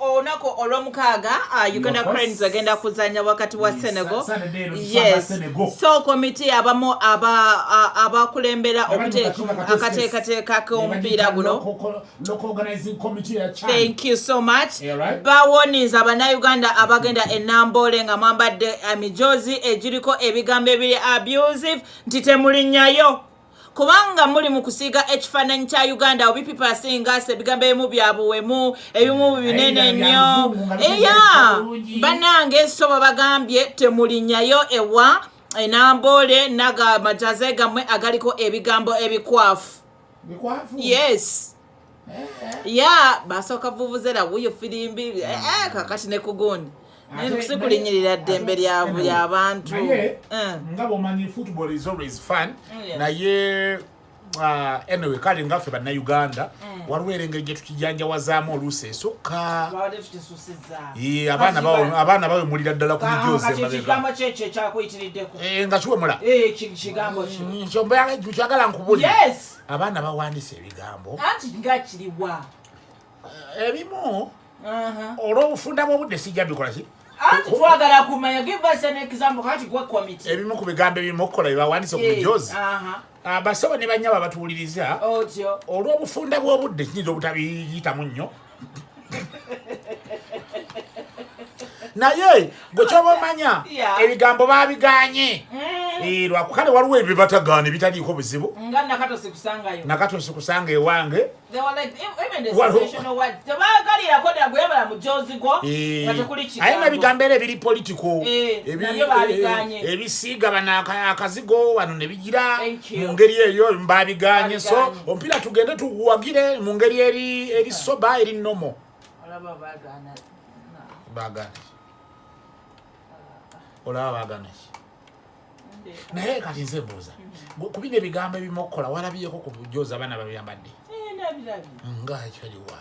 olunaku olwomukaaga uh, uganda cranes agenda kuzanya wakati wa senegal yes so komiti abamu uh, abakulembera akateekateeka k'omupiira guno thank you so much bawoniza bannayuganda abagenda enamboole nga mwambadde emijozi egiriko ebigambo ebiri abusive nti temulinyayo kubanga muli mu kusiiga ekifaananyi kya uganda obi people are saying us ebigambo ebimu bya buwemu ebimu binene nnyo eya banange sobo bagambye temulinyayo ewa enamboole naga majaze gamwe agaliko ebigambo ebikwafu yes ya basooka vuvuzera wuyo firimbi eh, eh, mm. kakati ne kugundi naye nkusi kulinyirira ddembe lyabantu eh. nga bwomanyi football is always fun oh, naye uh, anyway kale nga ffe bannauganda waliwo era engeri gyetukijanjawazaamu oluusi esukka abaana bawemulira ddala ku mijozikyagala ah, nkubulikyagala abaana bawandiisa ebigambo anti nga kiriwa eh, ebimu olwobufunda bwobudde sijja bikola ki anti twagala kumanya give us an example kati gwe committee ebimu ku bigambo ebimu okukola byebawandiisa ku mijozi abasaba ah, ne banyabo abatuwuliriza olwobufunda bwobudde kiyinza obutabiyitamu nnyo naye gwe kyoba omanya ebigambo babiganye mm. eh, lwakukale waliwo ebyo batagaana ebitaliiko buzibu nakato nsikusanga ewange aye nabigambo era ebiri politiko ebisiiga bano akazigo wano ira mu ngeri eyo mbabiganye so omupiira tugende tuguwagire mu ngeri eri eri soba eri nomo bagana olaba bagana ki naye kati nze mbuuza mm-hmm. kubina ebigambo ebimu okukola walabiyeko ku bujozi abaana babiyambadde eh, nga ekyo liwa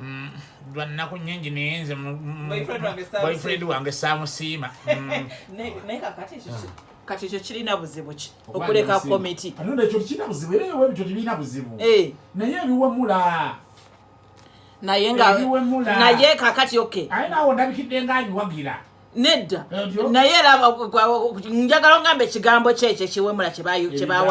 Mm, lwa nnaku nyingi naye nze boyfriend wange saamusiima mm. kati ekyo kirina buzibu ki okuleka komiti ekyo kirina buzibu era ewebityo tebirina buzibu eh. naye ebiwemula naye nga naye kakati oke aye nawe ndabikidde nga nyiwagira nedda naye era njagala ongamba ekigambo kyekyo ekiwemula kyebawa